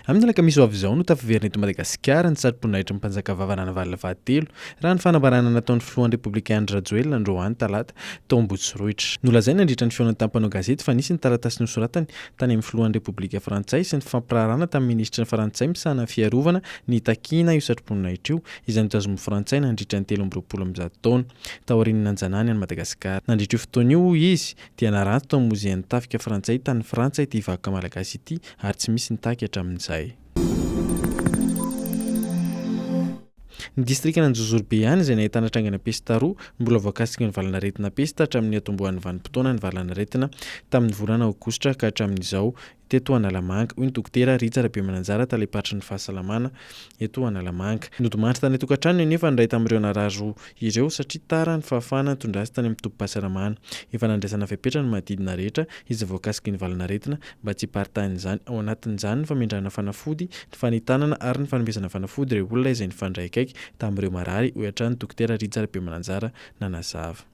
Amin'ny alakamisy ho avy izao no tafaverina eto Madagasikara ny sarim-poninahitry ny mpanjakavava Ranavalona fahatelo, raha ny fanambarana nataon'ny filohan'ny Repoblika Andry Rajoelina androany talata tao Ambotsiroitra. Nolazainy nandritra ny fihaonany tamin'ny mpanao gazety fa nisy ny taratasy nosoratany tany amin'ny filohan'ny Repoblika Frantsay sy ny fifampiraharahana tamin'ny minisitry ny Frantsay misahana ny fiarovana nitakiana io satroboninahitra io izay notazomin'ny Frantsay nandritra ny telo amby roapolo amby zato taona. Taorian'ny nanjanahany an'i Madagasikara. Nandritra io fotoana io, hoy izy, dia naranty tao amin'ny Mozean'ny Tafika Frantsay tany Frantsa ity vakoka malagasy ity ary tsy misy nitaky hatramin'izay. Ny distrikan'Anjozorobe ihany izay nahitana trangana pesta roa, mbola voakasiky ny valan'aretina pesta hatramin'ny niatombohan'ny vanim-potoana ny valan'aretina tamin'ny volana aogositra ka hatramin'izao. teto Analamanga, hoy ny Dokotera Rija Rabemananjara, Talem-paritry ny Fahasalamana eto Analamanga. Nodimandry tany an-tokantranony anefa ny iray tamin'ireo narary roa ireo satria tara ny fahafahana nitondra azy tany amin'ny tobim-pahasalamana. Efa nandraisana fepetra ny manodidina rehetra izay voakasiky ny valan'aretina mba tsy hiparitahan'izany, ao anatin'izany ny famindrana fanafody, ny fanentanana ary ny fanomezana fanafody ireo olona izay nifandray akaiky tamin'ireo marary, hoy hatrany Dokotera Rija Rabemananjara nanazava.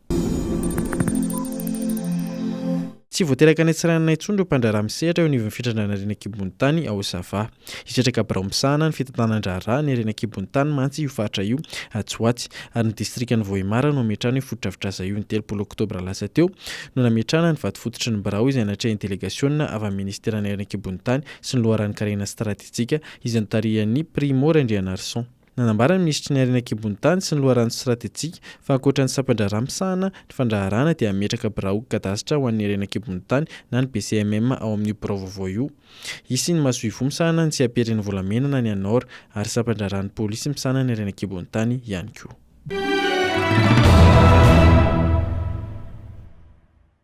Tsy vao teraka any Antsiranana intsony ireo mpandraharaha misehatra eo anivon'ny fitrandrahana ireny an-kibon'ny tany ao Sava. Hitraka birao misahana ny fitantanan-draharaha ny harena an-kibon'ny tany mantsy io faritra io atsy ho atsy ary ny distrikan'i Vohemar no hametrahana io fotodrafitrasa io. Ny telopolo oktobra lasa teo no nametrahana ny vadifototry ny birao izay natrehin'ny delegasiona avy amin'ny minisiteran'ny harena an-kibon'ny tany sy ny loharanon-karena stratejika izay notarihan'i Primo Randrianarison. Nanambara ny minisitry ny Harena an-kibon'ny tany sy ny loharano stratejika fa ankoatra ny sampan-draharaha misahana ny fandraharahana dia hametraka biraon'ny kadasitra ho an'ny harena an-kibon'ny tany na ny BCMM ao amin'io birao vaovao io. Hisy ny masoivoho misahana ny tsiamperen'ny volamena na ny ANOR ary sampan-draharahan'ny polisy misahana ny harena an-kibon'ny tany ihany koa.